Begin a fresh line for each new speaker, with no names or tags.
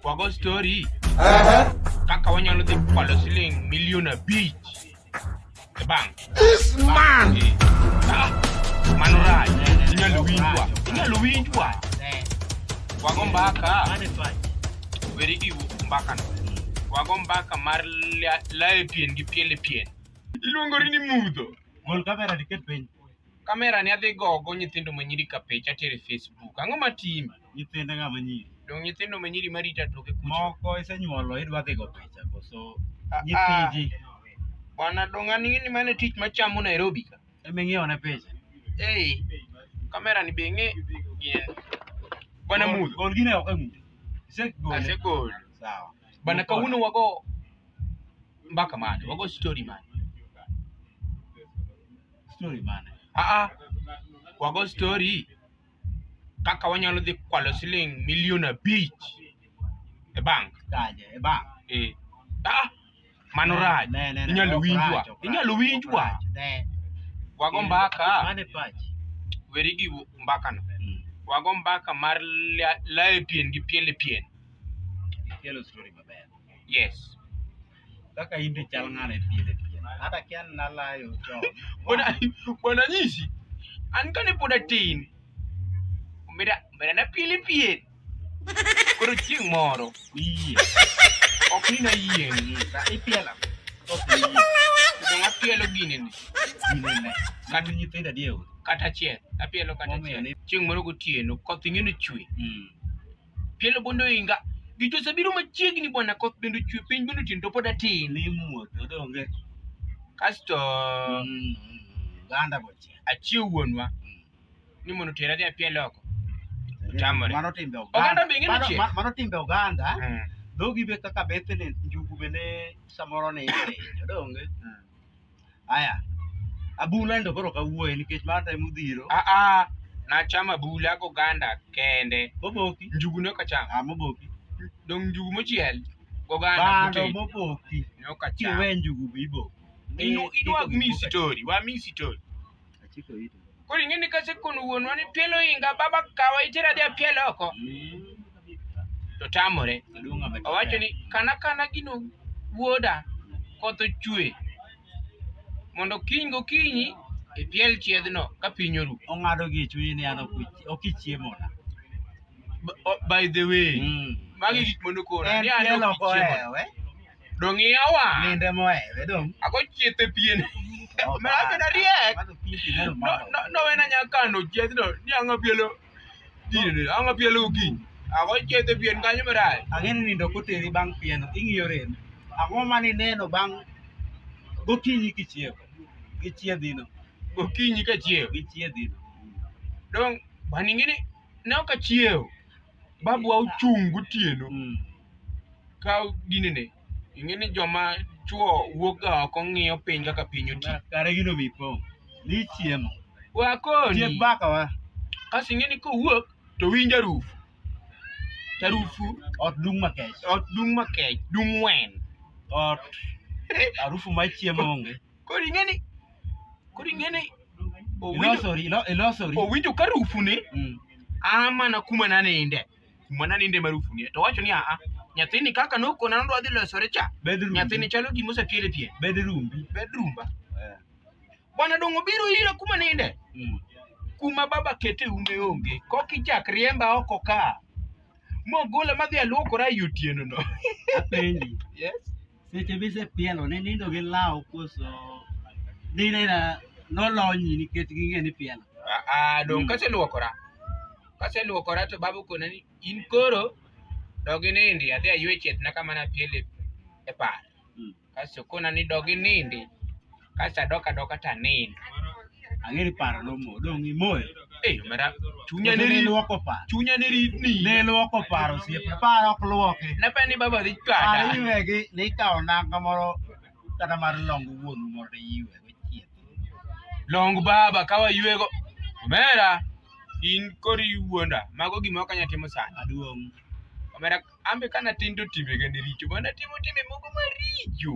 Wago story. Aha. Kaka wanyalo dhi kwalo siling milion abich. E bank. This man. Eh, ah, Mano rach. Inyalo winjwa. Inyalo winjwa. Wago mbaka. Weri gi mbaka no. Wago mbaka mar la- layo pien gi piele pien. Iluongori ni mudho. Mol kamera diket piny. Kamera ni adhi gogo nyithindo ma nyiri ka picha tere Facebook. Ang'o ma timi? Nyithindo ng'a ma nyiri? Dong nyithindo ma nyiri ma rita toke kucho. Moko isenyuolo idwa dhi go picha koso ah, ah. nyithiji. Bwana dong an ing'e ni mano tich ma chamo Nairobi ka. Ema ing'iewo ne picha. Ei. Kamera ni be ing'e. Bwana mudho. Gol gine ok emudo. Isegol. Asegol. Sawa. Bwana kawuono wago mbaka mane? Wago story mane? Story mane? Ah ah. Wago story kaka wanyalo dhi kwalo siling milion abich e bank. Kaje, e bank. Eh. Ah, mano rach. Ne, ne, ne, Inyalo ok winjwa. rach, ok Inyalo rach, winjwa. ok rach, ne. Wago mbaka, Mane pach. weri gi mbaka no. Mm. Wago mbaka mar la- laye pien gi piele pien. Kelo story maber. Yes. Kaka in be chal ng'ano e piele piele. Hata kia nalayo chon. Bwana bwana nyisi. An kane pod atin. Omera omera na piele piele. Koro chieng' moro iye. Ok ni na yie ni sa ipiela. Ok ni yie. Kendo apielo gini ni. Gini ne. Kata nyithindo adieu. Kata achiel. Apielo kata achiel. Chieng' moro gotieno koth ing'e ni chwe. Mm. Pielo bende oinga. Gich osebiro machiegni bwana, koth bende ochwe, piny bende otin to pod atin. Ni muoth odonge. Kasto mm, ganda boche. Achiew wuonwa mm. ni mondo tera dhi apiel oko. Otamore. Mano timbe oganda. Oganda be ng'e ni Mano timbe oganda. Mm. Dhogi be kaka bethene njugu bende samoro ni odonge. Aya. Abula ndo koro kawuoye nikech mar time udhiro. Ah ah. Nachama bula go ganda kende. Moboki. Njugu ne okacham. Ah moboki. Dong njugu mochiel. Go ganda. Bando moboki. Ne okacham. Kiwe njugu bibo. Inu inu wa misi tori. Wa misi tori. Koro ing'e ni kasekono wuonwa ni pielo inga baba kawa itera dhi apiel oko. To tamore. Owacho ni kana kana gino wuoda koth ochwe mondo kiny gokinyi ipiel chiedhno ka piny oru. Ong'ado gi chunye ni an ok ichiemo na. By the way, mm. magi gik mondo kora. En pielo kohewe. dong iyawa ninde mohere dong ago chiethe pien mera beda riek nowena nya kano chieth no ni ang'a bielo dine ang'a bielo gi ago chiethe pien kanyo mera ageni nindo koteri bang' pien ing'iyo rem ang'o mani neno bang' gokinyi kichiew gichiedhino gokinyi kachiew gichiedhino dong baningini ne ok achiew babwa ochung' gotieno Mm. ka ginene ing'e ni joma chwo wuok ga oko ng'iyo piny kaka piny oti Kare gino mi po. Ni chiemo. Tiek wakoni baka wa. kasi ing'e ni kowuok to winjo arufu to arufu Ot dung' makech. ot dung' makech dung' wen Ot harufu mar chiemo onge. Koro ing'eni koro ing'eni owinjo Ilosori, ilo- ilosori. owinjo ka rufune Mm. a mana kuma naninde kuma naninde ma rufune to wacho ni aa nyathini kaka nokona nodwa dhi losore cha Bed rumbi. nyathini chalo gima osepiele pien Bed rumbi. bedroom ba Eh. bwana dongo biro ira kuma ninde Mm. kuma baba kete ume onge kok ichak riemba oko ka mogola madhi aluokora e otieno no Apenji. yes Seche mise pielo ne nindo gi law koso dine na nolonyi nikech ging'e ni pielo. Ah, ah dong mm. kaseluokora. Kaseluokora to babu kona ni in koro dogi nindi adhi aywe chetna kama napiele e par. Mm. Kaso kona ni dogi nindi. Kacha doka doka ta nin. Angeri paro no mo dong imoyo. Eh mera chunya ne ri luoko pa. Chunya ne ri ni. Ne luoko paro sie paro ok luoki. Na pa ni baba dhi chwada. Paro iwegi ni ikawo nanga moro kata mar longo wuon moro de iwe go chieth. Long baba kawa iwego. Mera in kori wuonda mago gima ok anyal timo sani. Aduong'. Omera ambe kana tindo timbe gende richo. Bana timo timbe moko maricho.